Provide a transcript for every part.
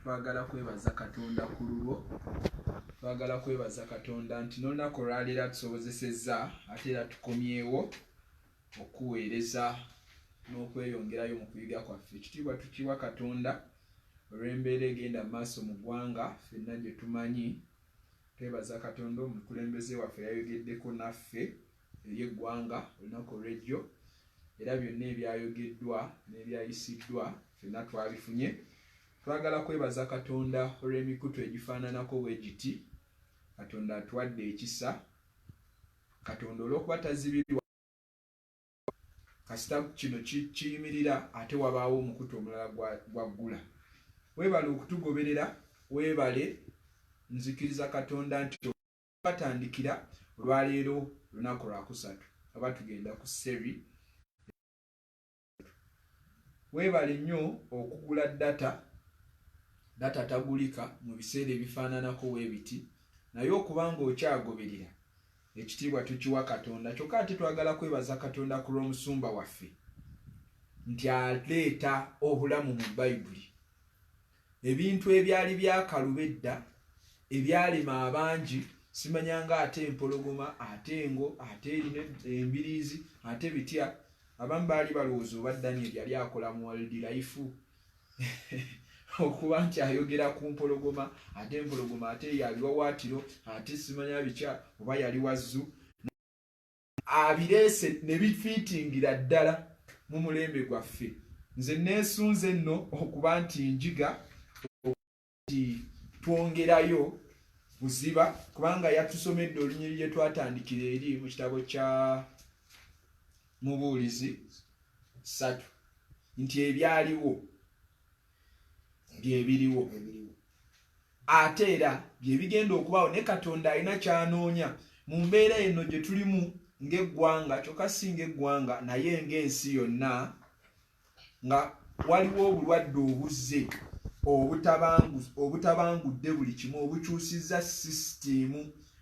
twagala kwebaza katonda ku lulwo twagala kwebaza katonda nti nolunaku olwaleero atusobozesezza ate era tukomyewo okuweereza n'okweyongerayo mu kuyiga kwaffe ekitiibwa tukiwa katonda olw'embeera egenda mu maaso mu ggwanga fenna gye tumanyi twebaza katonda omukulembeze waffe yayogeddeko naffe eri eggwanga olunaku olwejjo era byonna ebyayogeddwa n'ebyayisiddwa fenna twabifunye twagala kwebaza katonda olw'emikutu egifaananako bwe giti katonda atuwadde ekisa katonda olw'okuba tazibirwa kasita kino kiyimirira ate wabaawo omukutu omulala gwaggula weebale okutugoberera weebale nzikiriza katonda nti batandikira olwaleero lunaku lwakusatu aba tugenda ku seri weebale nnyo okugula data data tagulika mu biseera ebifaananako weebiti naye okuba ng'okyagoberera ekitiibwa tukiwa katonda kyokka ate twagala kwebaza katonda ku lw'omusumba waffe nti aleeta obulamu mu bayibuli ebintu ebyali byakaluba edda ebyalema abangi simanya nga ate empologoma ate engo ate erina embiriizi ate bitya abamu baali balowooza oba daniel yali akola mu waldi laifu okuba nti ayogera ku mpologoma ate empologoma ate yabiwawaatiro ate simanya bitya oba yali wazzu abireese ne bifiitingira ddala mu mulembe gwaffe nze neesunze nno okuba nti njiga nti twongerayo buziba kubanga yatusomedde olunyiri lye twatandikira eri mu kitabo kya mubuulizi satu nti ebyaliwo byebiriwo ate era byebigenda okubaawo ne katonda alina kyanoonya mu mbeera eno gye tulimu ng'eggwanga kyokka si ng'eggwanga naye ng'ensi yonna nga waliwo obulwadde obuzze obutabangudde buli kimu obukyusizza sisitiimu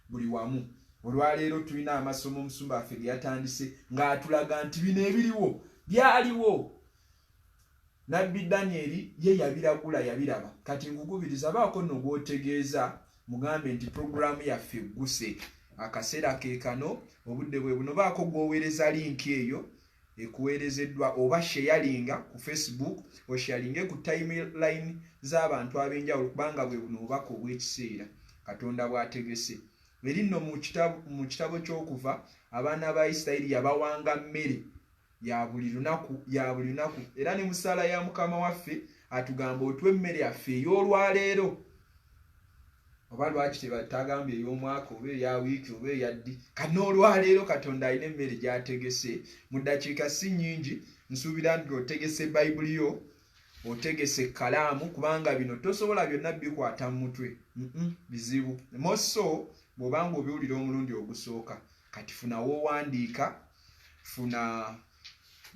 buli wamu olwaleero tulina amasomo omusumba waffe ge yatandise ng'atulaga nti bino ebiriwo byaliwo Nabbi Danyeri ye yabiragula, yabiraba. Kati nkukubiriza, baako nno gw'otegeeza, mugambe nti, Programu yaffe egguse. Akaseera ke kano. Obudde bwe buno. Baako gw'oweereza linki eyo ekuweerezeddwa, oba sheyalinga ku Facebook, osheyalinge ku tayimulayini z'abantu ab'enjawulo, kubanga bwe buno Obubaka obw'ekiseera Katonda bw'ategese. Eri nno mu Kitabo, mu Kitabo ky'Okuva, abaana ba Isiraeri yabawanga mmere. ya buli lunaku ya buli lunaku era ne musala ya mukama waffe atugamba otwa emmere yaffe ey'olwaleero oba lwaki tebatagambye ey'omwaka oba eya wiiki oba eyaddi kana olwaleero katonda alina emmere gyategese mu ddakiika si nyingi nsuubira nti otegese bayibuli yo otegese ekkalaamu kubanga bino tosobola byonna bikwata mu mutwe bizibu moso bw'obanga obiwulira omulundi ogusooka kati funawo owandiika funa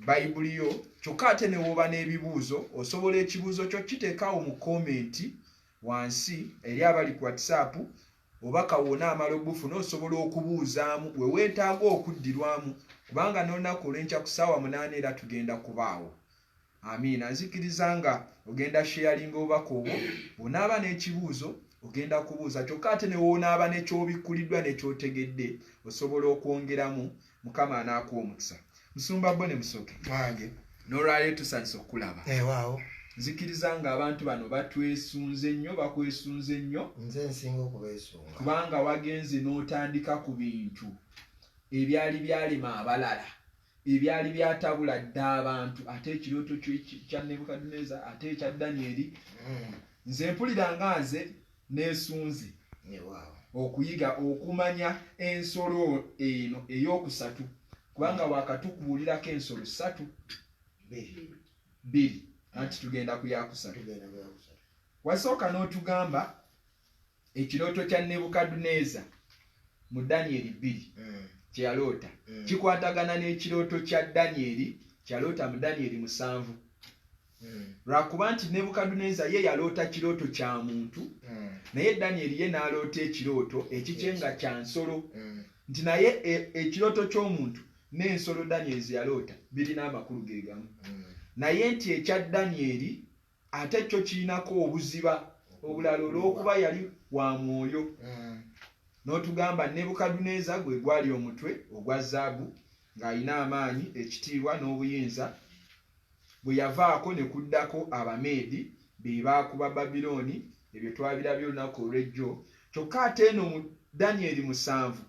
bayibuli yo kyokka ate newooba n'ebibuuzo osobola ekibuuzo kyo kiteekaawo mu komenti wansi eri abali ku whatsapp oba kawona amala ogufuna osobola okubuuzaamu we weetaaga okuddirwamu kubanga n'olunaku olwenkya ku ssaawa munaana era tugenda kubaawo amiina nzikiriza nga ogenda sheyalinga obubaka obwo bwonaaba n'ekibuuzo ogenda kubuuza kyokka ate newoonaaba nekyobikkuliddwa nekyotegedde osobola okwongeramu mukama anaakuwa omukisa musumba bo ne musoke wange nolwaleo tusanyisa okukulaba ewaawo eh, nzikiriza nga abantu bano batwesunze nnyo bakwesunze nnyo nze nsinga okubesunga kubanga wagenze n'otandika ku bintu ebyali byalema abalala ebyali byatabula dda abantu ate ekirooto kya nebukaduneza ate ekya danyeri hmm. nze mpulira nga nze nesunze okuyiga okumanya ensolo eno eyokusatu kubanga wakatukubuulirako ensolo satu bbiri anti tugenda kuyakusatu wasooka n'otugamba ekirooto kya nebukadduneeza mu danyeri bbiri mm. kye yaloota mm. kikwatagana n'ekirooto kya danyeri kyaloota mu danyeri musanvu mm. lwakuba nti nebukadduneeza ye yaloota kirooto kya muntu naye danyeri ye n'aloota ekirooto ekikye nga kya nsolo nti naye e, ekirooto ky'omuntu n'ensolo danyeri ze yaloota birina amakulu ge gamu naye nti ekya danyeri ate kyo kirinako obuziba obulala olw'okuba yali wa mwoyo mm. n'otugamba nebukaduneza gwe gwali omutwe ogwa zaabu ng'alina amaanyi ekitiibwa n'obuyinza bwe yavaako ne kuddako abameedi be baakuba babilooni ebyo twabirabye olunaku olw'ejjo kyokka ate eno mu danyeri musanvu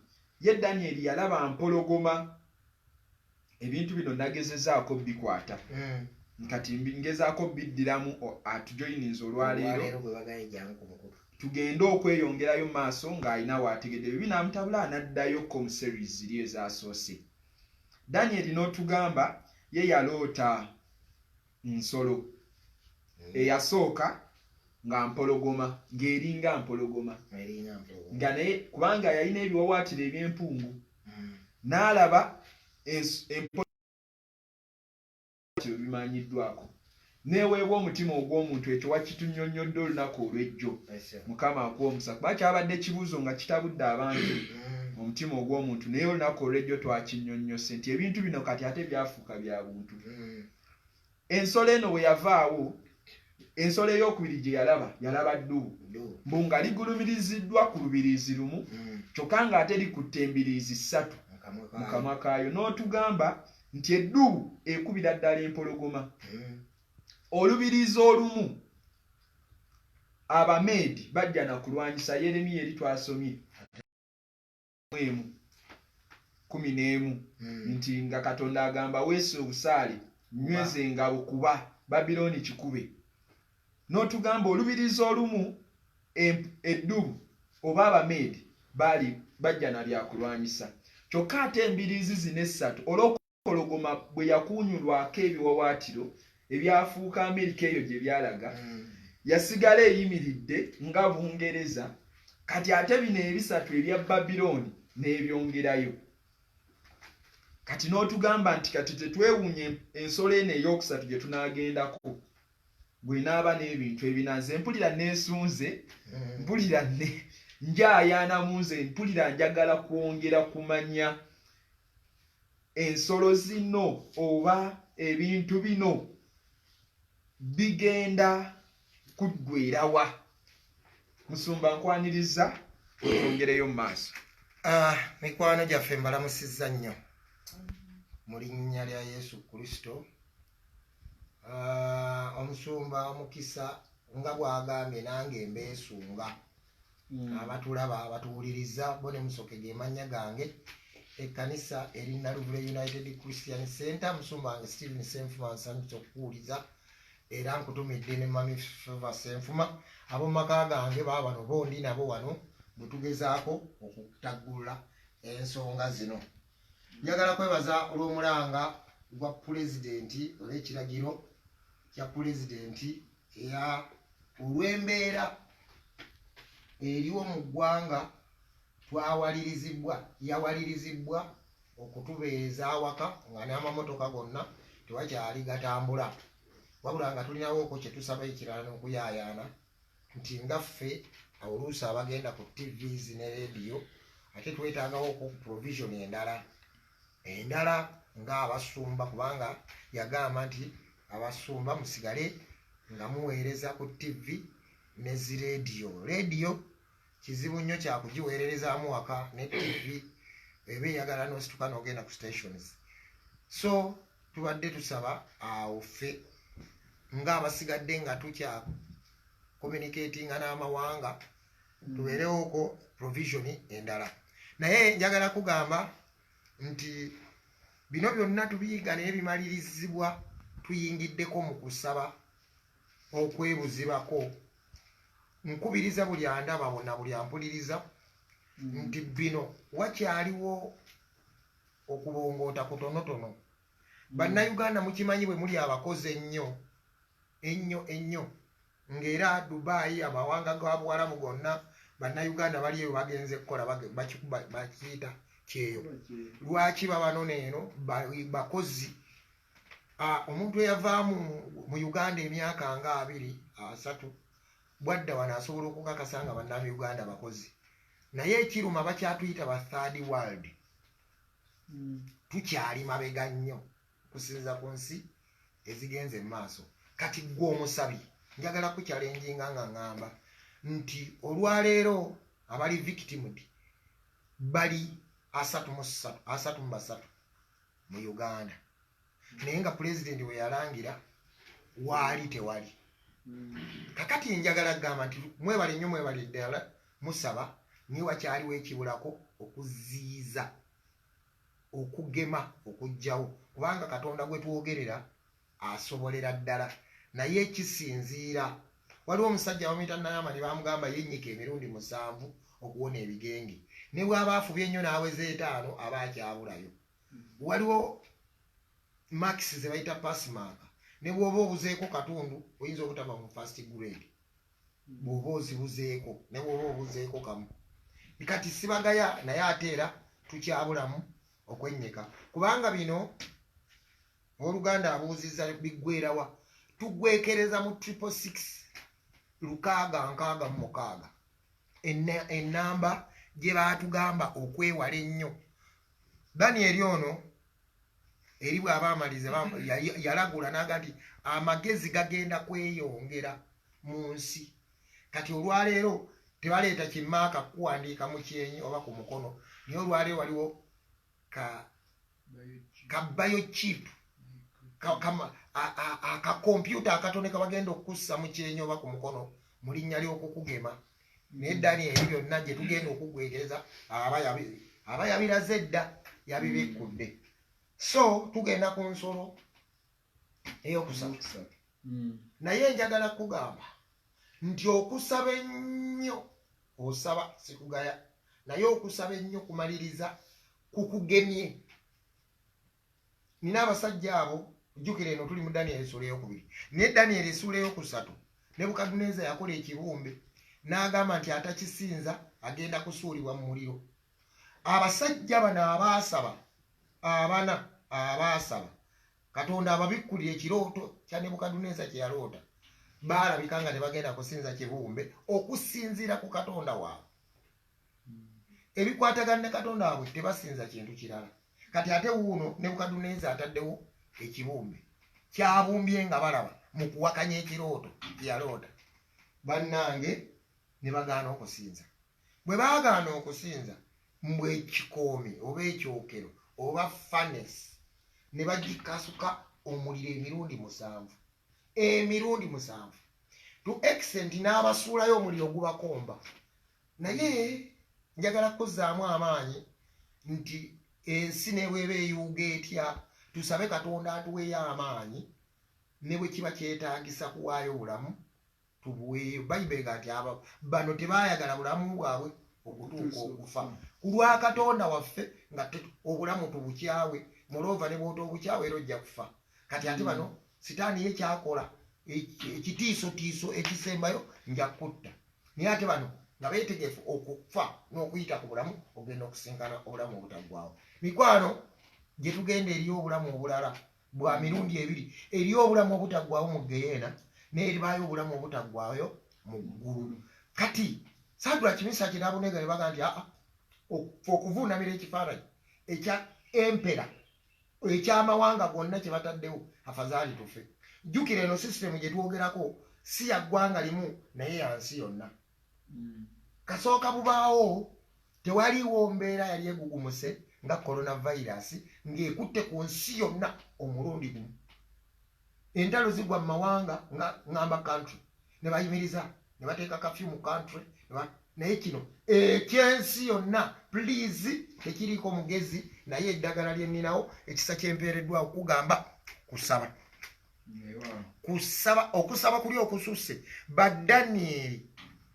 ye danyeri yalaba mpologoma ebintu bino nagezezaako bikwata hmm. nkati ngezaako biddiramu atujoyininza olwaleero tugende okweyongerayo maaso ng'alina waategedde byo binaamutabula anaddayo com series ziri ezasoose daniel n'otugamba ye yaloota nsolo mm. eyasooka nga mpologoma ng'eringa mpologoma nga naye kubanga yalina ebiwawaatiro eby'empungu mm. n'alaba empologoma bimanyiddwako neweebwa omutima ogw'omuntu ekyo wakitunyonnyodde olunaku olw'ejjo mukama akuwa omusa kuba kyabadde kibuuzo nga kitabudde abantu mm. omutima ogw'omuntu naye olunaku olw'ejjo twakinyonnyose nti ebintu bino kati ate byafuuka bya buntu mm. ensolo eno bwe yavaawo ensolo eyokubiri gye yalaba yalaba ddubu mbu nga ligulumiriziddwa ku lubiriizi lumu mm. kyokka ng'ate likutte embiriizi ssatu mu kamwa kaayo n'otugamba nti eddubu ekubira ddala empologoma mm. olubiriizi olumu abameedi bajja na kulwanyisa yeremiya eri twasomye emu kumi n'emu hmm. nti nga katonda agamba weesa obusaale nyweza engabo kuba babilooni kikube n'otugamba olubirizi olumu eddubu oba abameedi baali bajja na byakulwanyisa kyokka ate embiriizi zino essatu olwoku empologoma bwe yakuunyulwako ebiwawaatiro ebyafuuka amerika eyo gye byalaga hmm. yasigala eyimiridde nga bungereza kati ate bino ebisatu ebya babilooni n'ebyongerayo kati n'otugamba nti kati tetwewuunya ensolo eno ey'okusatu gye tunaagendako bwenaaba n'ebintu ebinanze mpulira neesunze hmm. mpulira njayaanamu nze mpulira njagala kwongera kumanya ensolo zino oba ebintu bino bigenda kuggwerawa musumba nkwaniriza otongereyo mu maaso ah, mikwano gyaffe mbalamusizza nnyo mu linnya lya yesu kristo ah, omusumba omukisa nga bwagambye nange mbeesunga mm. abatulaba abatuwuliriza bo ne musoke gemannya gange ekkanisa eri naluvule united christian center musumba wange stephen senfuma nsanyusa okukuwuliza era nkutumidde ne mami feva senfuma abomumaka gange baba bano bondi nabo wano bwetugezaako okutaggulula ensonga zino njagala kwebaza olw'omulanga gwa pulezidenti olw'ekiragiro kya pulezidenti ya olw'embeera eriwo mu ggwanga twawalirizibwa yawalirizibwa okutubeereza awaka nga n'amamotoka gonna tewakyali gatambula wabula nga tulinawooko kye tusaba ekirala n'okuyaayaana nti nga ffe oluusi abagenda ku tvs ne rediyo ate twetaagawo ku provision endala endala nga abasumba kubanga yagamba nti abasumba musigale nga muweereza ku ttivi ne zi leediyo leediyo kizibu nnyo kyakugiweererezaamu waka ne ttivi eba eyagala nosituka nogenda ku stations so tubadde tusaba awo ffe nga abasigadde nga tukya communicatinga n'amawanga mm. tubeerewoko provision endala naye njagala kugamba nti bino byonna tubiyiga naye bimalirizibwa tuyingiddeko mu kusaba okwebuzibako nkubiriza buli andaba wona buli ampuliriza mm. nti bino wakyaliwo okubongoota kutonotono mm. bannayuganda mukimanyi bwe muli abakozi ennyo ennyo ennyo ng'era Dubai amawanga ga Buwarabu gonna bannayuganda bali eyo bagenze kukola bakiyita kyeyo lwaki babanona eno bakozi omuntu eyavaamu mu uganda emyaka nga abiri asatu bwadda wano asobola okukakasa nga bannam uganda bakozi naye ekiruma bakyatuyita ba third world hmm. tukyali mabega nnyo kusinza ku nsi ezigenze mu maaso kati gwe omusabi njagala kukyalenjinga nga ŋŋamba nti olwaleero abali victimd bali asatu mu ssatu asatu mu basatu mu uganda naye nga pulezidenti we yalangira waali tewali kakati njagala kugamba nti mwebale nnyo mwebale ddala musaba naye wakyaliwo ekibulako okuziyiza okugema okujjawo kubanga katonda gwetwogerera asobolera ddala naye kisinziira waliwo omusajja bamuyita nayamani bamugamba yenyika emirundi musanvu okuwona ebigenge ne bwaba afubye ennyo n'aweza etaano aba akyabulayo waliwo max zebayita pasmaaka ne bwoba obuzeeko katundu oyinza obutaba mu fast grade bwoba ozibuzeeko naye bwoba obuzeeko kamu kati sibagaya naye ate era tukyabulamu okwennyika kubanga bino oluganda abuuzizza biggwerawa tugwekereza mu triple six lukaaga nkaaga mu mukaaga ennamba gye baatugamba okwewala ennyo danieri ono eri bw'aba amaliza yalagula n'aga nti amagezi gagenda kweyongera mu nsi kati olwaleero tebaleeta kimaaka kukuwandiika mu kyenyi oba ku mukono naye olwaleero waliwo ka kabayo chip akakompyuta akatone kabagenda okukussa mu kyenyi oba ku mukono mu linnya ly'okukugema naye danieri byonna gye tugenda okugwetereza aba yabiraze edda yabibikkudde so tugenda ku nsolo eyokusatu hmm. naye njagala kugamba nti okusaba ennyo osaba sikugaya naye okusaba ennyo kumaliriza kukugemye nina abasajja abo jjukira eno tuli mu daniel esuula eyokubiri naye daniel esuula eyokusatu nebukaduneza yakola ekibumbe n'agamba nti atakisinza agenda kusuulibwa mu muliro abasajja bano abaasaba abana abaasaba katonda ababikkulira ekirooto kya nebukaduneza kye yaloota baalabika nga tebagenda kusinza kibumbe okusinziira ku katonda waabwe ebikwatagana ne katonda wabwe tebasinza kintu kirala kati ate wuuno nebukaduneza ataddewo ekibumbe kyabumbye nga balaba mu kuwakanya ekirooto yaloota bannange ne bagaana okusinza bwe bagaana okusinza mbu ekikoomi oba ekyokero oba fanes ne bagikasuka omuliro emirundi musanvu emirundi musanvu to extent n'abasuulayo omuliro ogubakomba Naye njagala kukuzzaamu amaanyi nti ensi nebweba eyuuga etya tusabe katonda atuweeyo amaanyi ne bwe kiba kyetaagisa kuwaayo bulamu tubuweeyo bayibuli nga nti abo bano tebaayagala bulamu bwabwe okutuuka okufa ku lwa katonda waffe nga obulamu tubukyawe muloova ne bwota obukyawe era ojja kufa kati ate bano sitaani ye kyakola ekitiisotiiso ekisembayo nja kutta naye ate bano nga betegefu okufa n'okuyita ku bulamu okugenda okusinkana obulamu obutaggwawo mikwano gye tugenda eri obulamu obulala bwa mirundi ebiri eri obulamu obutaggwawo mu geyeena n'eribaayo obulamu obutaggwayo mu ggulu kati sadula kimisa kye nabunega ne baga nti aa okuvuunamira ekifaananyi ekya empera ekyamawanga gonna kyebataddewo afazaali tufe jjukira eno sisitemu gyetwogerako si ya ggwanga limu naye yansi yonna hmm. kasooka bubaawo tewaliwo mbeera yali egugumuse nga coronavirus ng'ekutte ku nsi yonna omulundi gumu entalo zigwa mu mawanga nga ngamba country ne bayimiriza ne bateeka kafyu mu country naye kino ekyensi eh, yonna please tekiriiko mugezi naye eddagala lyenninawo ekisa kyempeereddwa okugamba kusaba kusaba okusaba kuli okususse badanieri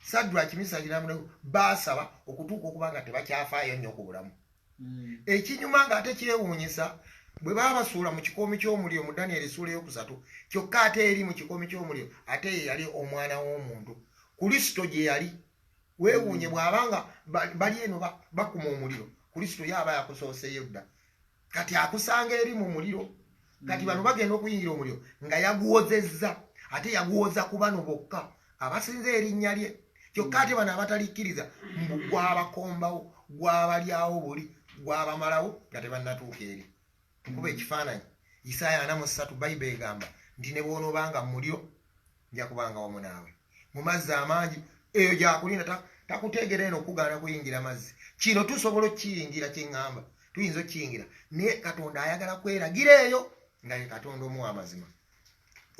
sadraki misagiramu basaba okutuuka okuba nga tebakyafaayo nnyo ku bulamu ekinyuma nga ate kyewuunyisa bwe baba basuula mu kikoomi ky'omuliro mu daniel esuula eyokusatu kyokka ate eri mu kikoomi ky'omuliro ate ye yali omwana w'omuntu kulisito gye yali weewuunye mm. bw'aba nga bali eno bakuma omuliro kulisito ye aba yakusooseyo dda kati akusanga eri mu muliro kati bano bagenda okuyingira omuliro nga yaguwozezza ate yaguwoza ku bano bokka abasinza erinnya lye kyokka ate bano abatalikkiriza mbu gwabakombawo gwabalyawo buli gwabamalawo nga tebannatuuka eri nkuba ekifaananyi isaaya ana mu ssatu bayibuli egamba nti ne bwonoobanga mu muliro nja kubanga wamu naawe mu mazzi amangi eyo gyakulinda takuteegera eno okugaana kuyingira mazzi kino tusobola okukiyingira kyeŋŋamba tuyinza okukiyingira naye katonda ayagala kweragira eyo nga ye katonda omuwa amazima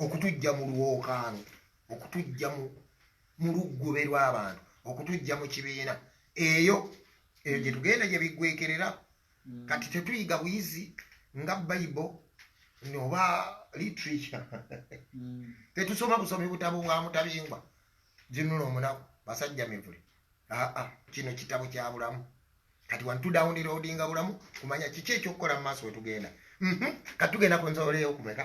okutujja mu lwokaano okutujja mu luggube lw'abantu okutujja mu kibiina eyo eyo gye tugenda gye biggwekerera mm. kati tetuyiga buyizi nga bible oba literature mm. tetusoma busomi butabo bwa mutabingwa ginula omunaku basajja mivule aa kino kitabo kyabulamu kati wantudawuniroodinga bulamu kumanya kiki ekyokukola mu maaso wetugenda mhm. kati tugenda ku nzooleyo okumeka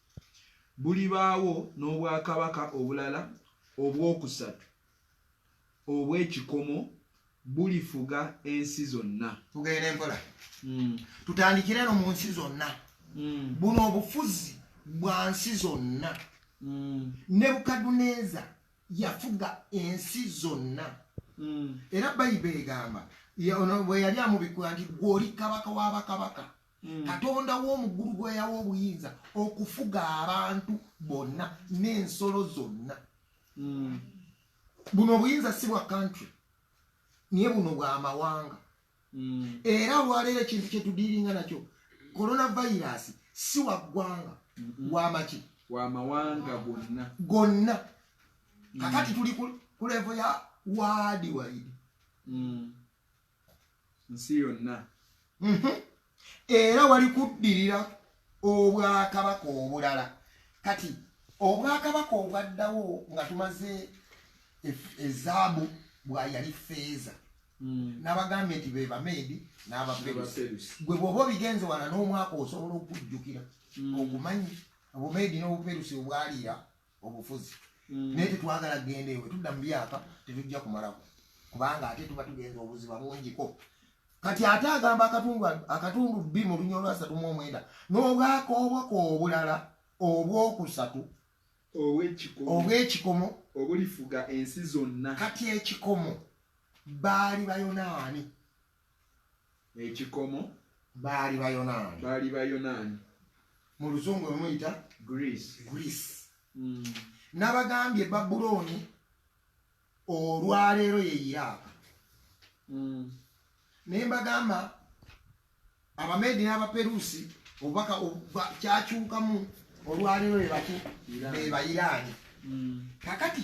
bulibaawo n'obwakabaka obulala obw'okusatu obw'ekikomo bulifuga ensi zonna tugenda empola hmm. tutandikire no mu nsi zonna hmm. buno obufuzi bwa nsi zonna hmm. nebukaduneza yafuga ensi zonna era bayibuli egamba bwe yali amubikula nti gweoli kabaka wa bakabaka mm. katonda w'omuggulu gweyawa obuyinza okufuga abantu bonna n'ensolo zonna mm. buno obuyinza si bwa kantry naye buno bwamawanga mm. era olwaleero ekintu kyetudiiringa nakyo coronavirus si wa ggwanga mm-hmm. wamaki wamawanga gonna gonna kakati tuli ku levo ya waadi waidi nsi yonna mhm. era wali kuddirira obwakabaka obulala kati obwakabaka obwaddawo nga tumaze ezaabu bwayali feeza hmm. nabagambye nti bebameedi n'abaperusi gwe bwoba obigenze wala n'omwaka osobola okujjukira hmm. ogumanyi obumeedi n'obuperusi obwaliira obufuzi mm. naye tetwagala kugenda ewe tudda mu byaka tetujja kumalako kubanga ate tuba tugenza obuziba bungiko kati ate agamba akatundu akatundu bbi mu lunya olwasatu mu omwenda n'obwakoobwako obulala obwokusatu obwekikomo obulifuga ensi zonna kati ekikomo baali bayonaani ekikomo baali bayonaani baali bayonaani mu luzungu emuyita greece greece mm. nabagambye babulooni olwaleero ye iraaka mm. naye mbagamba abameedi n'abaperusi obubaka kyakyukamu olwaleero bebaki bebayiraani mm. kakati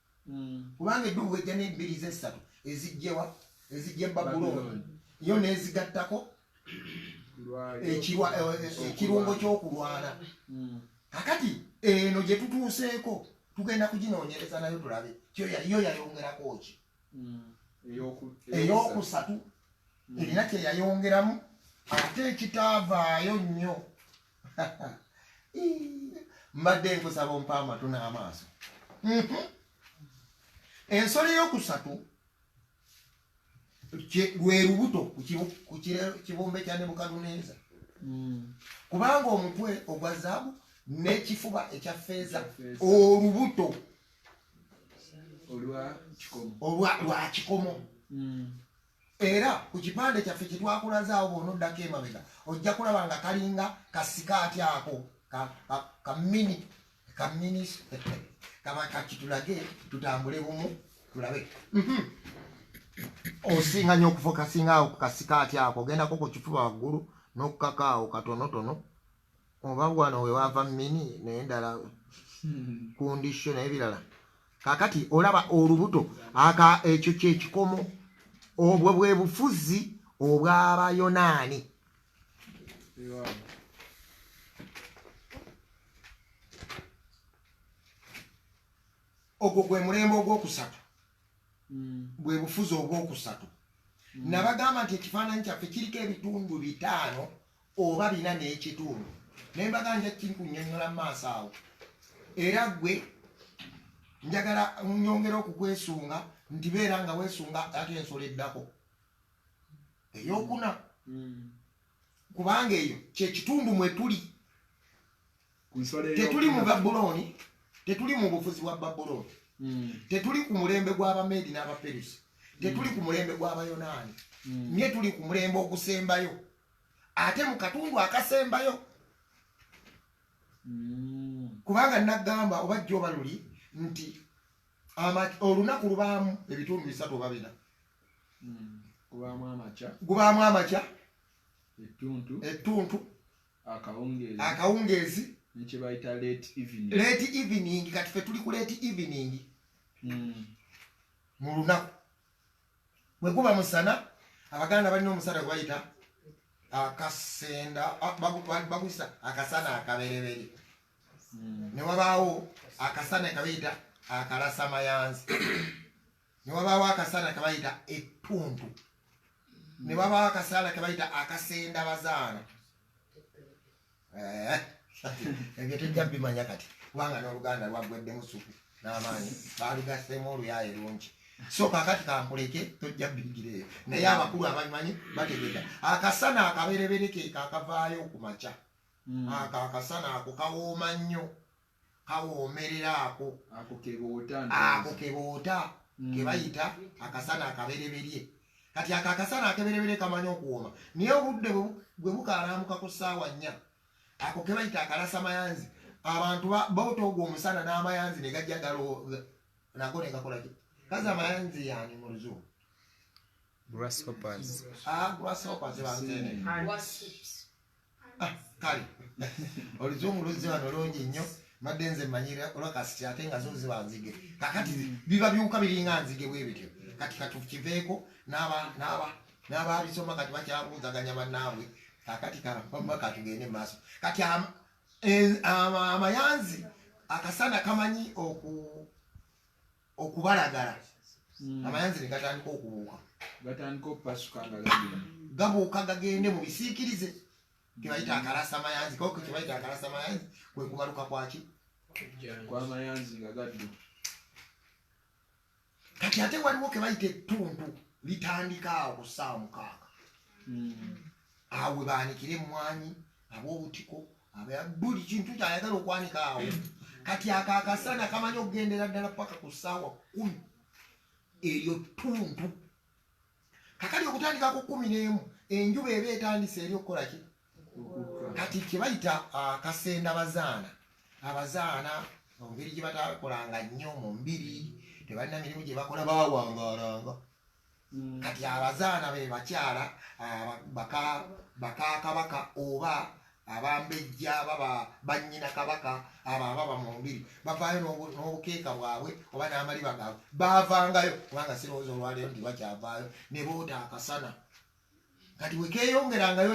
Mm. kubanga eddubu ejja n'ebbiri z'essatu ezijjewa ezijja ebabulooni yo n'ezigattako eh, eh, ekirungo ky'okulwana mm. kakati eno gye tutuuseeko tugenda kuginoonyereza nayo tulabe yo yayongerako ki mm. ey'okusatu erina kye yayongeramu ate ekitaavaayo nnyo mbadde nkusaba ompa amatu n'amaaso mhm. ensolo eyokusatu lwe lubuto ku kibumbe kya nebukaduneza hmm. kubanga omutwe ogwa zaabu n'ekifuba ekya feeza olubuto olwa kikomo hmm. Era ku kipande kyaffe kye twakulaze awo bw'onoddako emabega ojja kulaba nga kalinga kasikaati ako kamini kamini kaba kakitulage tutambule bumu tulabe mhm. osinga nyo okufokasinga awo ku kasikaati ako ogendako ku kifuba waggulu n'okukaka awo katonotono oba wano wewava mini naye ndala kundisho naye birala kakati olaba olubuto aka ekyo kyekikomo obwo bwe bufuzi obw'abayonaani ogwo gwe mulembe ogwokusatu hmm. bwe bufuzi obwokusatu hmm. nabagamba nti ekifaananyi kyaffe kiriko ebitundu bitaano oba bina n'ekitundu naye mbaga nja kinkunyonyola mu maaso awo era gwe njagala nyongera okukwesunga nti beera nga wesunga ate ensolo eddako eyokuna hmm. kubanga eyo kyekitundu mwetuli tetuli mu babulooni tetuli mu bufuzi bwa babulooni hmm. tetuli ku mulembe gw'abameedi n'abaperusi tetuli ku mulembe gw'abayonaani hmm. naye tuli ku mulembe ogusembayo ate mu katundu akasembayo mm. kubanga nagamba oba jjo oba luli nti olunaku lubaamu ebitundu bisatu oba bina mm. gubaamu amakya gubaamu amakya ettuntu ettuntu akawungeezi akawungeezi nekyebayita late evening late evening kati fe tuli ku late evening mm. mu lunaku bwe guba musana abaganda balina omusana gwe bayita akasenda ah, baguyisa akasana akabereberi hmm. ne wabaawo akasana kabayita akalasa mayanzi ne wabaawo akasana kabayita ettuntu ne wabaawo akasana kabayita akasenda bazaana eh, ebyo tujja bimanya kati kubanga n'oluganda lwaggweddemu suku n'amaanyi baalugasseemu oluyaye lungi so kakati kankuleke tojja bigireyo naye abakulu abamanyi bategeka akasana akaberebere ke kakavaayo ku makya hmm. ako akasana ako kawooma nnyo kawoomerera ako ako keboota mm. kebayita akasana akabereberye kati ako akasana akebereberye kamanyi okuwooma naye obudde bwe bukalamuka ku ssaawa nnya ako kebayita akalasa mayanzi abantu bawuta ogwo omusana n'amayanzi ne gajja galo nago ne gakolaki kazi amayanzi yani mu luzungu grasshoppers ah grasshoppers ba ntene ah kali olizungu luzi wano longi nnyo madde nze manyira olwakasiti ate nga zo ziba nzige kakati biba biwuka biringa nzige bwebityo kati katukiveeko n'aba n'aba n'abaabisoma kati bakyabuuzaganya bannaabwe kakati kampama katugende mu maaso kati e, amayanzi akasana kamanyi oku okubalagala hmm. amayanzi negatandika okubuuka gatandika okupasuka nga gabuuka gagende mu bisiikirize kebayita akalasa mayanzi koko kebayita akalasa mayanzi kwekubaluka kwaki kwamayanzi nga gaddu kati ate waliwo kebayita ettuntu litandika awo ku ssaawa mukaaga hmm. awo webanikira emmwanyi ab'obutiko buli kintu kyayagala okwanika awo kati ako akasana kamanyi okugendera ddala paka ku ssaawa kumi eryo ttuntu kakali okutandika ku kumi n'emu enjuba eba etandise eri okukola ki kati kyebayita akasenda bazaana abazaana mungeri gyebatakolanga nnyo mu mbiri tebalina mirimu gyebakola bawangaalanga Mm. kati abazaana be bakyala ah, baka kabaka oba abambejja baba bannyina kabaka abo ababa mu mbiri bavaayo n'obukeeka bwabwe oba n'amaliba gaabwe baavangayo kubanga sirowooza olwaleero nti bakyavaayo ne boota akasana kati wekeeyongerangayo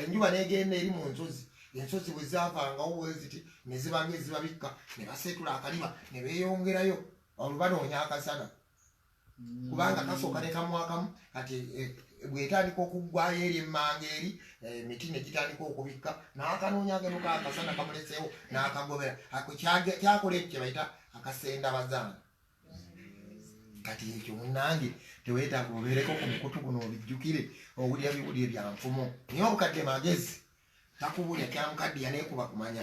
enjuba n'egenda eri mu nsozi ensozi bwe zaavangawo bweziti ne zibanga ezibabikka ne baseetula akaliba ne beeyongerayo olubanoonya akasana kubanga kasooka ne kamwakamu kati eh, bwetandika okuggwayo eri emmanga eri eh, emiti ne gitandika okubikka n'akanoonya ageno kakasana kamuleseewo n'akagobera kyakola ekyo kye bayita akasenda bazaana kati ekyo munange tewetaaga obeereko ku mukutu guno obijjukire owulira biwulire bya nfumo naye obukadde magezi takubulya kyamukaddiya naye kuba kumanya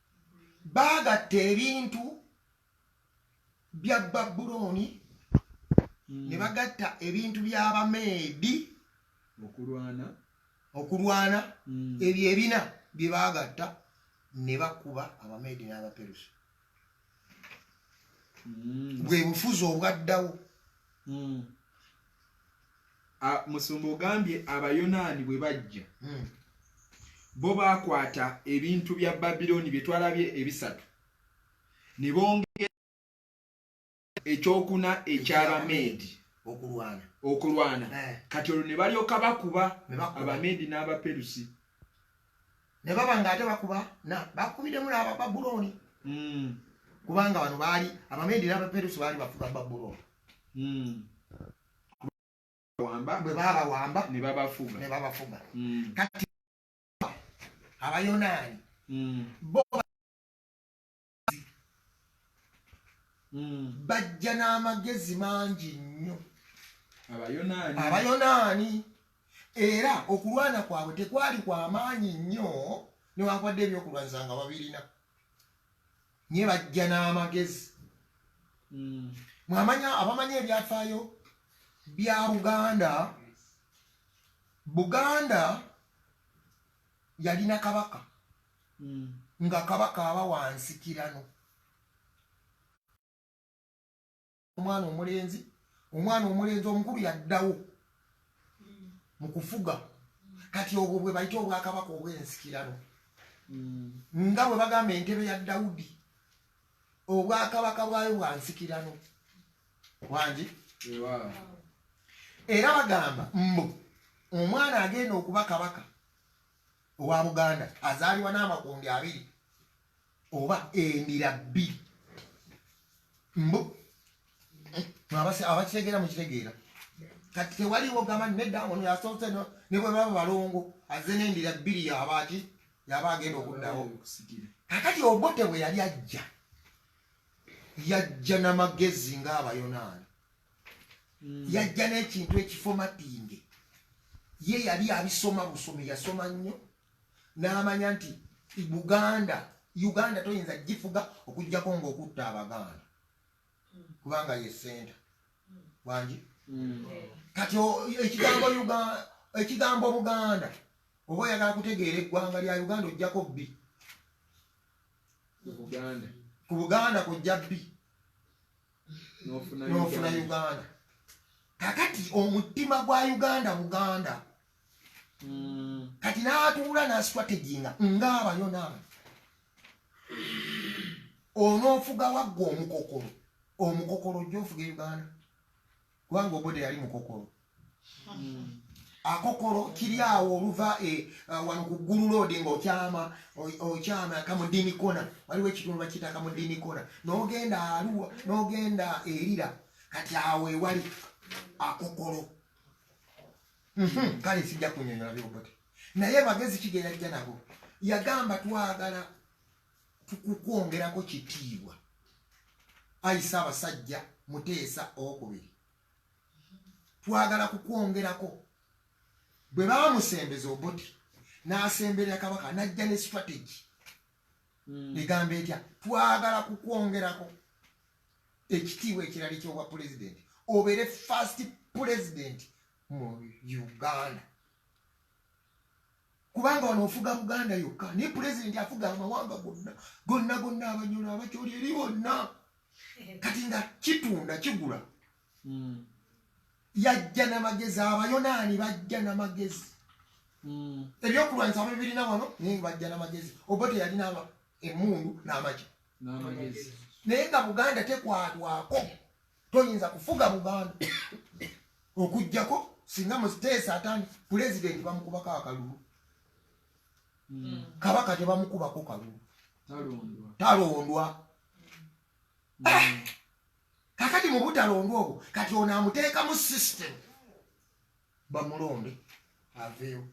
baagatta ebintu bya babulooni hmm. ne bagatta ebintu by'abameedi okulwana okulwana hmm. ebyo ebina bye baagatta ne bakuba abameedi n'abaperusi hmm. bwe bufuzi obwaddawo musumba ogambye abayonaani bwe bajja hmm. bo baakwata ebintu bya babilooni bye twalabye ebisatu ne bongera ekyokuna ekyabameedi okulwana eh. kati olwo ne balyoka bakuba abameedi n'abaperusi ne baba nga ate bakuba bakubidemu nabababulooni hmm. kubanga bano baali abameedi n'abaperusi baali bafuga babulooni hmm. bwe babawamba ne babafuga hmm. kati abayonaani hmm. bo hmm. bajja n'amagezi mangi nnyo abayonaani era okulwana kwabwe tekwali kwamaanyi nnyo newankubadde ebyokulwanyisa nga babirina nye bajja n'amagezi hmm. mwamanya abamanya ebyafaayo bya buganda buganda yalina kabaka hmm. nga kabaka aba wansikirano omwana omulenzi omwana omulenzi omukulu yaddawo mu kufuga kati obwo bwe bayita obwakabaka obw'ensikirano hmm. nga bwe bagamba entebe ya dawudi obwakabaka bwayo bwa nsikirano wangi era bagamba mbu omwana agenda okuba kabaka owa buganda azaalibwa n'amakundi abiri oba emira bbiri mbu abakitegeera mukitegeera kati tewaliwo gamba nedda ono yasoose ne bwe baba balongo azze n'endira bbiri yabaaki yaba agenda okuddawo kakati obote bwe yali ajja yajja n'amagezi ng'abayonaani hmm. yajja n'ekintu ekifomatinge ye yali abisoma busomi yasoma nnyo n'amanya nti buganda uganda toyinza gifuga okujjako ngaokutta abaganda kubanga ye senta wangi mm. kati ekigambo ekigambo buganda oba oyagala kutegeera eggwanga lya uganda ojjako bbi ku buganda kujja bbi nofuna uganda kakati omutima gwa uganda buganda mm. kati natuula nasitwateginga ngaabayo naaba onoofuga wagga omukokolo omukokolo ojja ofuga uganda kubanga obode yali mukokolo mm. akokolo kiri awo oluva e, uh, wano ku ggulu loodi ngaokyama okyama kamudini kona waliwo ekitundu bakiyita kamudini kona nogenda aluwa nogenda erira kati awo ewali akokolo Mhm, kale sijja kunyonyola byobote naye bagezi kigerajja nabo yagamba twagala tukukwongerako kitiibwa ayisa abasajja muteesa owokubiri twagala kukwongerako bwe bamusembeza obuti n'asemberera kabaka n'ajja ne strategy hmm. egamba etya twagala kukwongerako ekitiibwa ekirali kyobwa pulezidenti obeere first pulezidenti mu uganda kubanga wano ofuga buganda yokka naye pulezidenti afuga amawanga gonna gonna gonna abanyolo abakyoli eri bonna kati nga kitunda kigula mm. yajja namagezi abayonaani bajja namagezi mm. ebyokulwanyisa abe birina wano naye bajja namagezi oba teyalina emundu namagi naye nga buganda tekwatwako toyinza kufuga buganda okugjako singa musiteesa atandi pulezidenti bamukubako akalulu mm. kabaka tebamukubako kalulu talondwa mm. ah! kakati mu butalonda obwo kati ono amuteekamu system bamulonde aveewo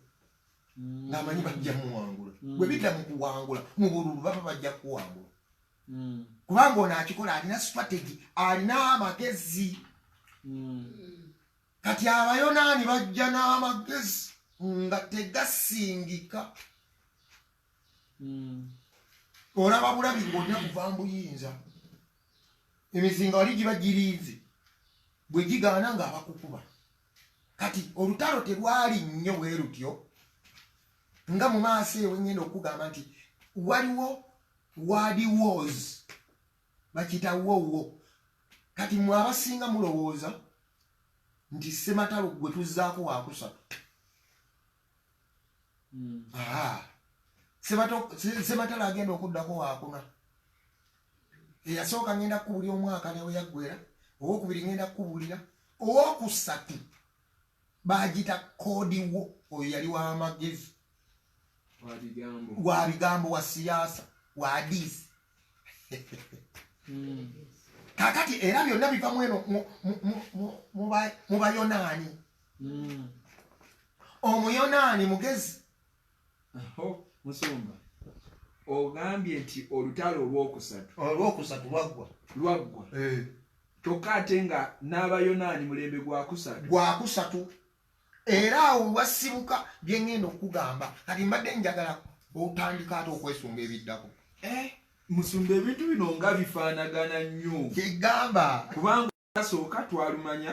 mm. ngaamanyi bajja muwangula mm. bwe bidda mu kuwangula mu bululu baba bajja kuwangula mm. kubanga ono akikola alina strategy alina amagezi kati abayonaani bajja n'amagezi nga tegasingika olaba bulabi ng'olina kuva mbuyinza emizinga wali giba girinze bwe gigaana nga abakukuba kati olutalo terwali nnyo bwe lutyo nga mu maaso ewe ngenda okugamba nti waliwo wadi wars bakiyita wowo kati mwe abasinga mulowooza nti sematalo gwe tuzzaako wakusatu hmm. sematala agenda okuddako wakuna eyasooka ngenda kukubuli omwaka neweyaggwera owokubiri ngenda kukubulira owokusatu bagita kodiwo oyo yali wamagezi wa bigambo wa siyaasa wa adiisi hmm. kakati era byonna biva mweno mu bayonaani hmm. omuyonaani mugezi musumba ogambye nti olutalo olwokusatu olwokusatu lwaggwa lwaggwa eh. kyokka ate nga n'abayonaani mulembe gwakusatu gwakusatu era awo wasibuka byengenda okugamba kati mbadde njagala otandika ate okwesunga ebiddako eh? musumba ebintu bino nga bifaanagana nnyo kyegamba kubanga asooka twalumanya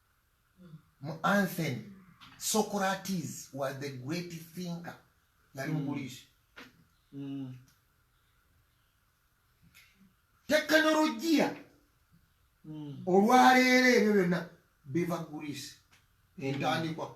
mu anthen socrates was the great thinker yali muguliisi mm. mm. tekinologiya mm. olwaleero ebyo byonna biva guliisi entandikwa mm.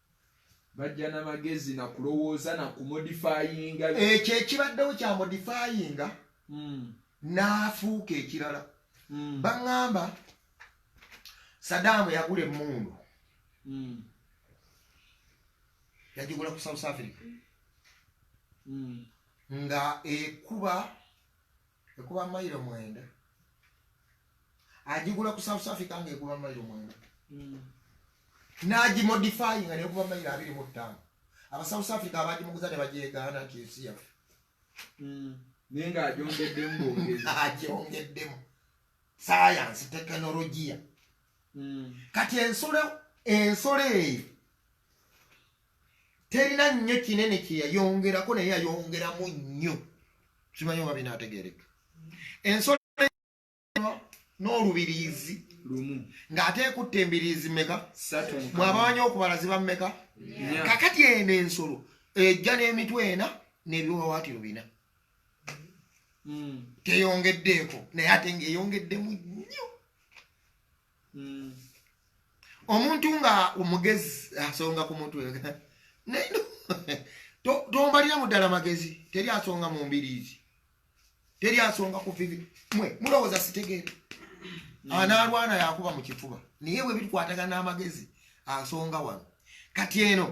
bajja na magezi na kulowooza na kumodifayinga ekyo ekibaddewo kya modifayinga hmm. n'afuuka ekirala hmm. baŋŋamba sadaamu yagula emmundu hmm. yagigula ku south africa nga ekuba ekuba mailo mwenda ajigula ku south africa nga ekuba mailo mwenda mm. nagimodifyinga nekuba mailo abiri mu ttaano aba south africa abagimuguza ne bagyegaana nti ensi yaffe mm. naye nga ajongeddemu ajongeddemu sayansi tekinologiya mm. kati ensolo ensolo eyo terina nnyo kinene kye yayongerako naye yayongeramu nnyo kimanyi oba binaategeereka ensolo n'olubiriizi lumu ng'ate ekutta embiriizi meka bw'abamanyi okubala ziba meka kakati eno ensolo ejja n'emitwe ena n'ebiwawaatiro bina hmm. teyongeddeeko naye ate ng'eyongeddemu nnyo hmm. omuntu nga omugezi asonga ku mutwe naye tombaliramu ddala magezi teri asonga mu mbiriizi teri asonga ku vivi mwe mulowooza sitegeera hmm. anaalwana yakuba mu kifuba naye bwe bikwatagana n'amagezi asonga wano kati eno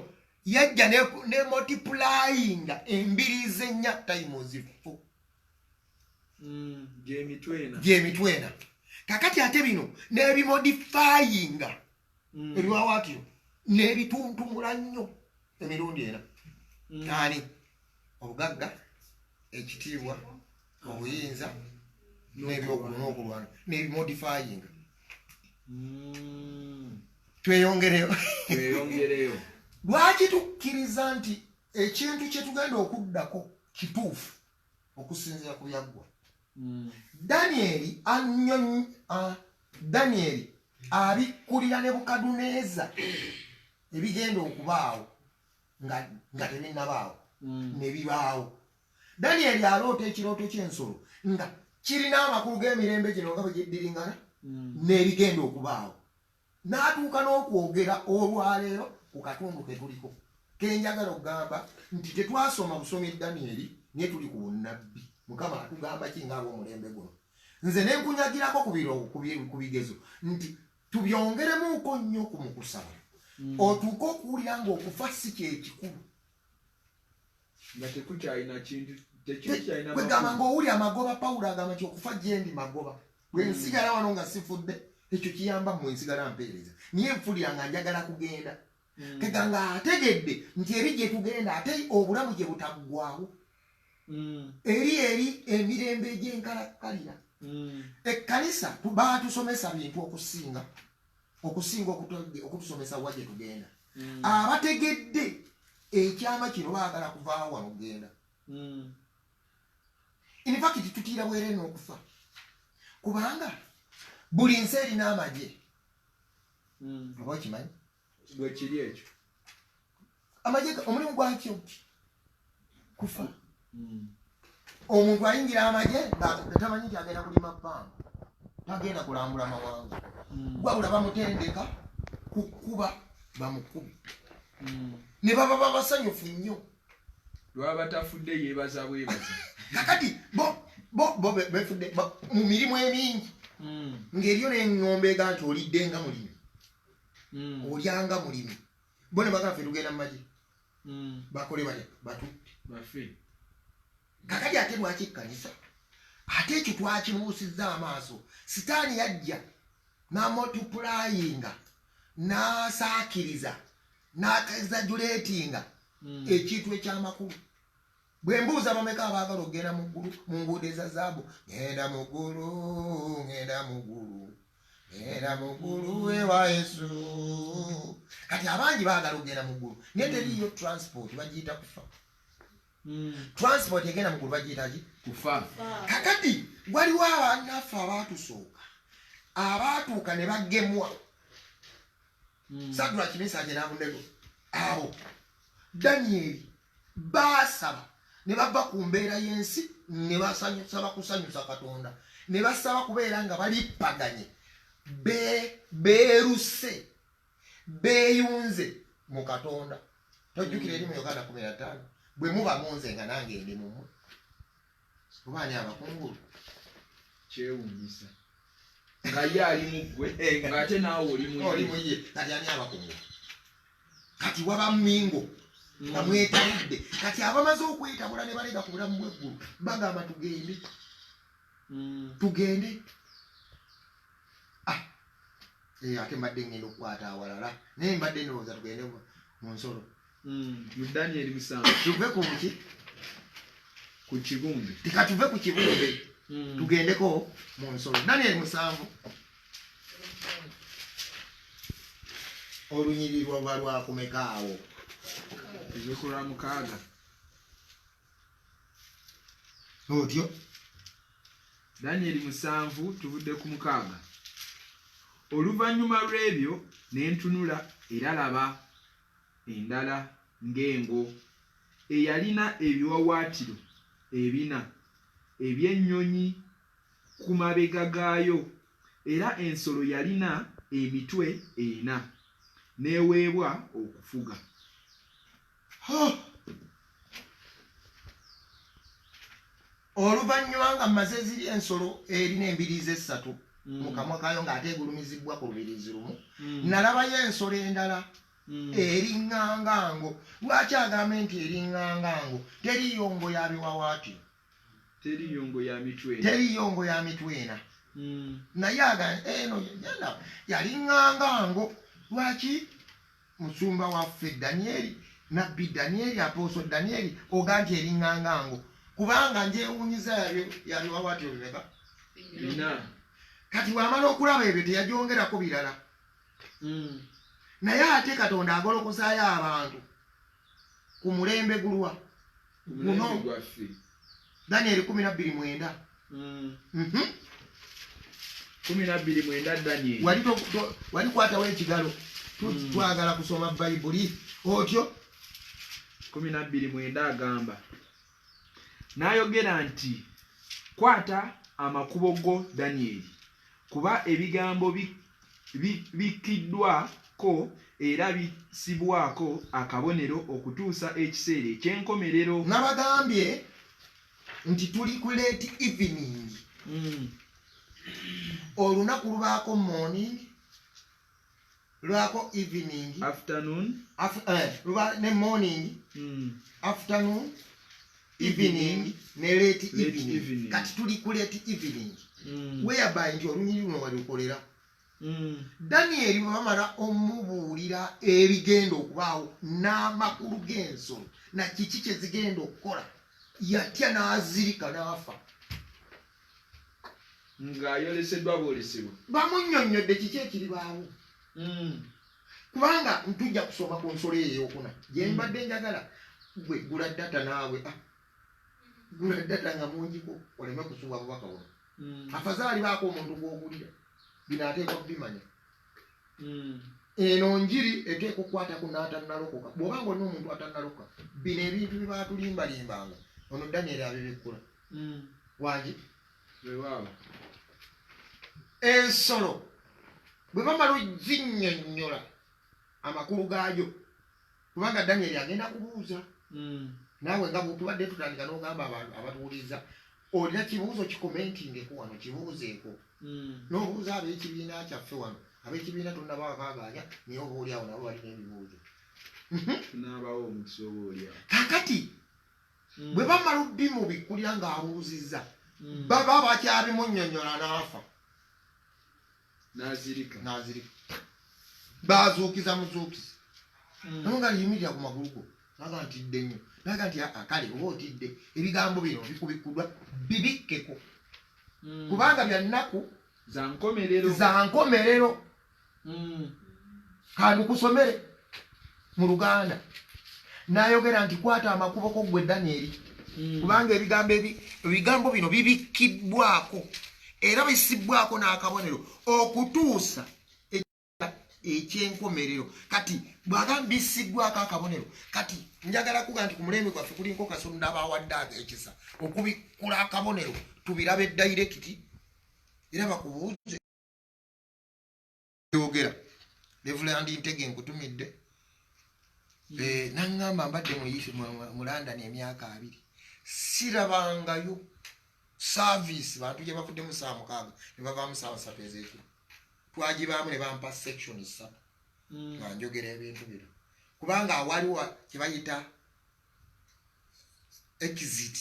yajja ne multiplyinga embiriizi ennya times four mm, gyemitwena kakati ate bino nebimodifayinga mm. ebiwawaatiro nebituntumula nnyo emirundi ena mm. ani obugagga ekitiibwa obuyinza nebyokulwana nebimodifayinga tweyongereyo lwaki tukkiriza nti ekintu kyetugenda okuddako kituufu okusinzira ku byaggwa mm. danyeri anyonyi uh, danyeri abikkulira ne bukaduneeza ebigenda okubaawo nga, nga tebinnabaawo mm. ne bibaawo danyeri aloota ekirooto ky'ensolo nga kirina amakulu g'emirembe gino nga bwe giddiringana mm. n'ebigenda okubaawo n'atuuka n'okwogera olwaleero ku katundu ke tuliko ke njagala okugamba nti tetwasoma busomi danieri naye tuli ku bunnabbi mukama atugamba ki ng'ab'omulembe guno nze ne nkunyagirako ku bigezo nti tubyongeremuuko nnyo ku mukusaba hmm. otuuke okuwulira ng'okufa si kyekikulu nga tekukyalina kintu tekikyalinakwegamba ngaowuli amagoba pawulo agamba nti okufa gyendi magoba bwe hmm. nsigala wano nga sifudde ekyo kiyamba mwe nsigala mpeereza niye nfulira nga njagala kugenda hmm. tega nga ategedde nti eri gye tugenda ate obulamu gye butaggwawo hmm. eri eri emirembe egy'enkalakkalira ekkanisa baatusomesa bintu okusinga okusinga okutusomesa wa gyetugenda mm. abategedde ekyama kino baagala kuvaawo wano genda mm. infakiti tutiira bwere n'okufa kubanga buli nsi erina amagye mm. oba okimanyi bwekiri ekyo amagye omulimu gwakyo kufa hmm. omuntu ayingira amagye tamanyi nti agenda kulima bbanga tagenda kulambula mawanga hmm. wabula bamutendeka kukuba bamukubi hmm. ne baba babasanyufu nnyo lwaba tafudde yebaza bwebaza kakati bo bo bo befudde mu mirimu emingi ng'eriyo n'eŋŋombeega nti olidde nga mulimi olyanga mulimi bona bagala ffe tugenda mu magye hmm. bakole bale batutte kakati ate lwaki ekkanisa ate ekyo twakibuusizza amaaso sitaani yajja namotupulayinga nasaakiriza nakezajuleetinga hmm. ekintu ekyamakulu bwe mbuuza bameka abaagala okugenda mu ggulu mu nguudo eza zaabu ŋenda mu ggulu ŋenda mu ggulu ŋenda mu ggulu ewa yesu kati abangi baagala okugenda mu ggulu naye teriiyo transport bagiyita kufa hmm. transport egenda mu ggulu bagiyitaki kufa kakati waliwo abanaffe abaatusooka abaatuuka ne bagemwa hmm. sadula kimisanje nabunego awo danyeri baasaba ne bava ku mbeera y'ensi ne basaba kusanyusa katonda ne basaba kubeera nga balippaganye beeruse beeyunze mu katonda tojjukira eri mu uganda kumi na ttaano bwe muba munze nga nange ndi mumwe oba ani abakungulu kyewunyisa nga ye ali muggwe eh, ngaate naawe olimuye kati ani abakungulu kati waba mingo mm. bamwetabudde kati abamaze okwetabula ne balega ku bulamu bweggulu bagamba tugende mm. tugende ah. eh, ate mbadde ngenda okukwata awalala naye mbadde ndowooza tugende mu nsolo Mm, mu Daniel musanvu. Tuve ku ki? Ku kibumbe. Tika tuve ku kibumbe. Mm. Tugendeko mu nsolo. Daniel musanvu. Olunyiri lwa lwa lwa kumeka awo. Ezekula mukaaga. Otyo. Daniel musanvu tuvudde ku mukaaga. Oluvannyuma lw'ebyo ne ntunula era laba endala ng'engo eyalina ebiwawaatiro ebina eby'ennyonyi ku mabega gaayo, era ensolo yalina emitwe ena, n'eweebwa okufuga. Oluvannyuma nga mmaze ziri ensolo erina embiriizi essatu mm. mu kamwa kaayo ng'ate egulumizibbwa ku lubiriizi lumu mm. nalabayo ensolo endala mm. eringanga ngo lwaki agambe nti eringanga ngo teriyo ngo ya biwawaati teriyo ngo ya mitwe teriyo ngo ya mitwe ena naye aga eno yalinganga ngo lwaki Musumba waffe Danieri, Nabbi Danieri, Apostle Danieri, oga nti eringanga ngo. Kubanga njewunyiza yabyo yabyo wawati obimeka. Ina. Kati wamala okulaba ebyo teyajongera ko birala. Mm. Naye ate Katonda agolokosa ya abantu ku mulembe gulwa. guno daniel kumi nabbiri mwenda mm. mhm. kumi nabbiri mwenda daniel wali kwatawo ekigalo mm. twagala kusoma bayibuli otyo kumi nabbiri mwenda agamba n'ayogera nti kwata amakubo go danyeri kuba ebigambo bikkiddwa ko era bisibwako akabonero okutuusa ekiseera eky'enkomerero nabagambye nti tuli ku late evening mm. olunaku lubaako morning lwako evening afternoon af, eh, luba ne morning mm. afternoon evening ne late evening kati tuli ku late evening mm. whereby nti olunyiri luno walukolera Mm. danieri bwe bamala omubuulira ebigenda okubaawo n'amakulu g'ensolo na kiki kye zigenda okukola yatya n'azirika n'afa ng'ayoleseddwa bwolesebwa bamunyonnyodde kiki ekiribaawo hmm. kubanga ntujja kusoma ku nsolo eyo eyokuna gyembadde hmm. njagala gwe gula data naawe ah. gula data nga mungiko oleme kusuba bubaka buno hmm. afazaali baako omuntu gwogulira bino ateekwa kubimanya eno njiri eteeka okukwata ku naatanalokoka bw'oba nga olina omuntu atanalokoka bino ebintu bibaatulimbalimbanga ono daniel abibikkula mm. wagi ensolo bwe bamala ozinnyonnyola amakulu gaayo kubanga danyeri agenda kubuuza hmm. naawe nga bwetubadde tutandika n'ogamba abantu abatuwuliriza olina kibuuzo kikomentingeku wano kibuuzeeko hmm. n'obuuza ab'ekibiina kyaffe wano ab'ekibiina tonabakagaanya naye oba oliawo nabo balina ebibuuzo kakati mm. bwe bamala obimubikkulira ng'abuuzizza mm. baba bakyabimunyonyola n'afa nazirika bazuukiza muzuukizi mm. naye nga yimirira ku magulu go naga ntidde nnyo naga nti ah, kale oba otidde ebigambo bino bikubikkudwa bibikkeko kubanga byannaku za nkomerero mm. kandukusomere mu luganda nayogera nti kwata amakubo ko gwe danyeri mm. kubanga ebigambo ebigambo bino bibikkiddwako era bisibbwako n'akabonero okutuusa ekyenkomerero kati bwaga bisiddwako akabonero kati njagala kuga nti ku mulembe gwaffe kulinko kasonda abawadde ago ekisa okubikkula akabonero tubirabe dayirekiti era bakubuuze yogera levulandi ntege nkutumidde eh, naŋŋamba mbadde mu london emyaka abiri sirabangayo saavisi bantu gye bavuddemu saa mukaaga ne bavaamu saawa satu ezekiro twagibaamu ne bampa section satu hmm. nga njogera ebintu bino kubanga awaliwa kye bayita exit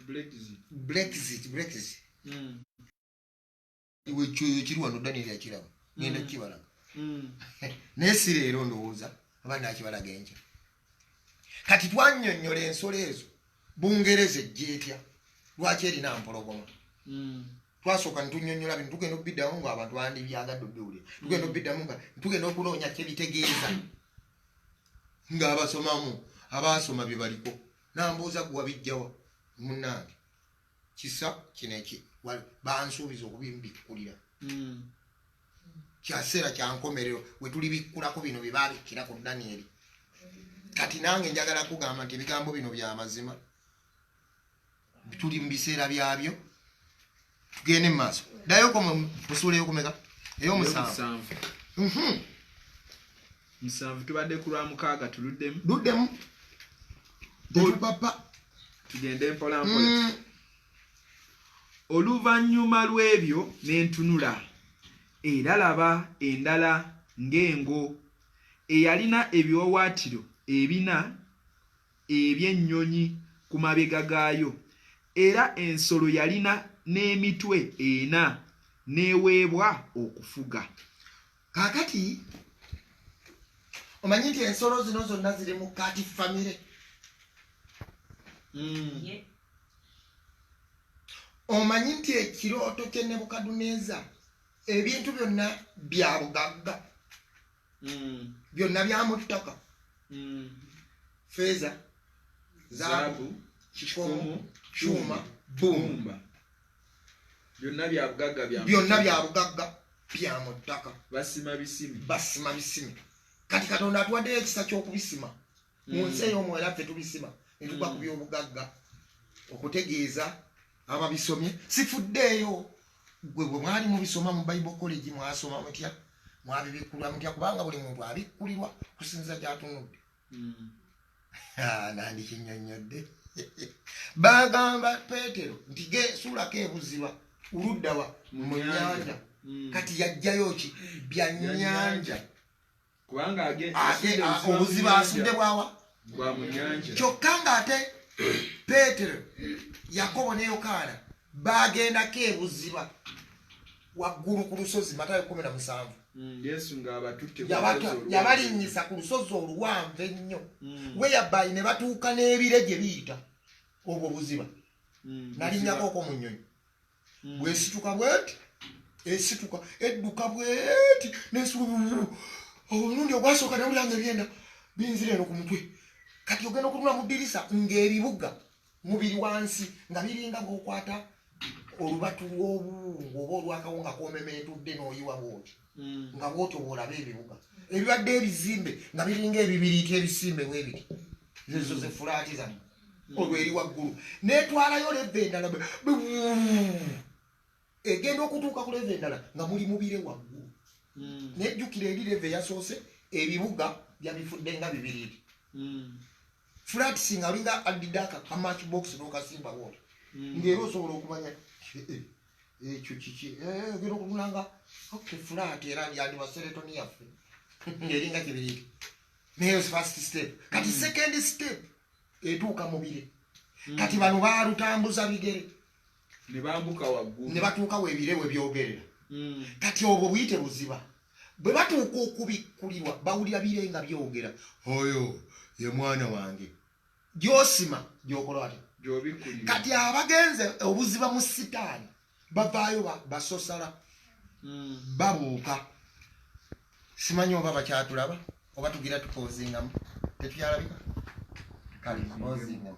brexit brexit brexit hmm. iwe kyoyo kiri wano daniel akiraba ngenda kukibalaga naye si leero ndowooza oba nakibalaga enkya kati twanyonyola ensolo ezo bungereza ejjeetya lwaki erina mpologoma hmm. twasooka netunyonyola bintu tugenda okubiddamu nga abantu bandi byagadde obiwulira tugenda hmm. okubiddamu nga tugenda okunoonya kyebitegeeza nga abasomamu abaasoma bye baliko nambuuza gwe wabijjawa munange kisa kino eki bansuubiza okubimbikkulira hmm. kyaseera kyankomerero wetulibikkulako bino byebabikkira ku danieri kati nange njagala kugamba nti ebigambo bino byamazima tuli mu biseera byabyo tugende mu maaso dayoko musuula eyokumeka eyomusanvu mhm. musanvu tubadde ku lwa mukaaga tuluddemu luddemu papa tugende mpolampola mm. oluvannyuma lw'ebyo n'entunula era laba endala ng'engo eyalina ebiwawaatiro ebina eby'ennyonyi ku mabega gaayo era ensolo yalina n'emitwe ena n'eweebwa okufuga kakati omanyi nti ensolo zino zonna ziri mu kati famire hmm. omanyi nti ekirooto kye nebukaduneza ebintu byonna bya bugagga hmm. byonna byamuttaka hmm. feeza zaabu kikomu kyuma bumba byonna bya bugagga bya byonna bya bugagga bya mu ttaka basima bisimi basima bisimi kati katonda atuwaddeyo ekisa ky'okubisima mu mm. nsi ey'omwoyo ffe tubisima ne tugwa ku mm. by'obugagga okutegeeza ababisomye sifuddeeyo gwe bwe mwali mubisoma mu bible college mwasoma mutya mwabibikulwa mutya kubanga buli muntu abikkulirwa kusinza gyatunudde Ah, nandikinyonyodde bagamba petero nti gesuulako ebuziba uluddawa mu nyanja hmm. kati yajjayo ki bya nyanja kubanga ah, obuziba asudde bwawa kyokka nga ate petero yakobo ne yokaana baagendako ebuziba waggulu ku lusozi matayo kumi na musanvu mm, yabalinnyisa ku lusozi oluwanvu ennyo mm. weyabayi ne batuuka n'ebire gye biyita obwo buziba mm, nalinnyako oko mu nnyonyi bwesituka bweti esituka edduka bweti nesuluu omulundi ogwasooka nawulanga ebyenda binzira eno ku mutwe kati ogenda okunula mu ddirisa ng'ebibuga mubiri wansi nga biringa bwokwata olubatu lwobuwungu oba olwakawunga komemetudde noyiwa bwoti hmm. nga bwotyo bwolaba ebibuga ebibadde ebizimbe nga biringa ebibiriiti ebisimbe bwebiti zezo hmm. zefulaati zamu hmm. olweri waggulu netwalayo leva endala egenda okutuuka ku leve endala nga muli mubire waggulu hmm. naye jjukira eri leve yasoose ebibuga byabifudde nga bibiriri hmm. flatsi nga alinga addidde akakamach box nokasimba woola hmm. ngaera osobola okumanya eh, eh, ekyo kiki eh, ogenda okutunanga ok flat era yandibaseretoni yaffe ngaeringa kibiriri naye first step kati second step etuuka mubire kati bano balutambuza bigere ne bambuka waggulu ne batuuka webire we byogerera hmm. kati obwo buyite buziba bwe batuuka okubikkulirwa bawulira bire nga byogera oyo ye mwana wange gyosima gyokola ati kati abagenze obuziba mu sitaani bavaayo basosala hmm. babuuka simanyi oba bakyatulaba oba tugira tupozingamu tetukyalabika kale ozingamu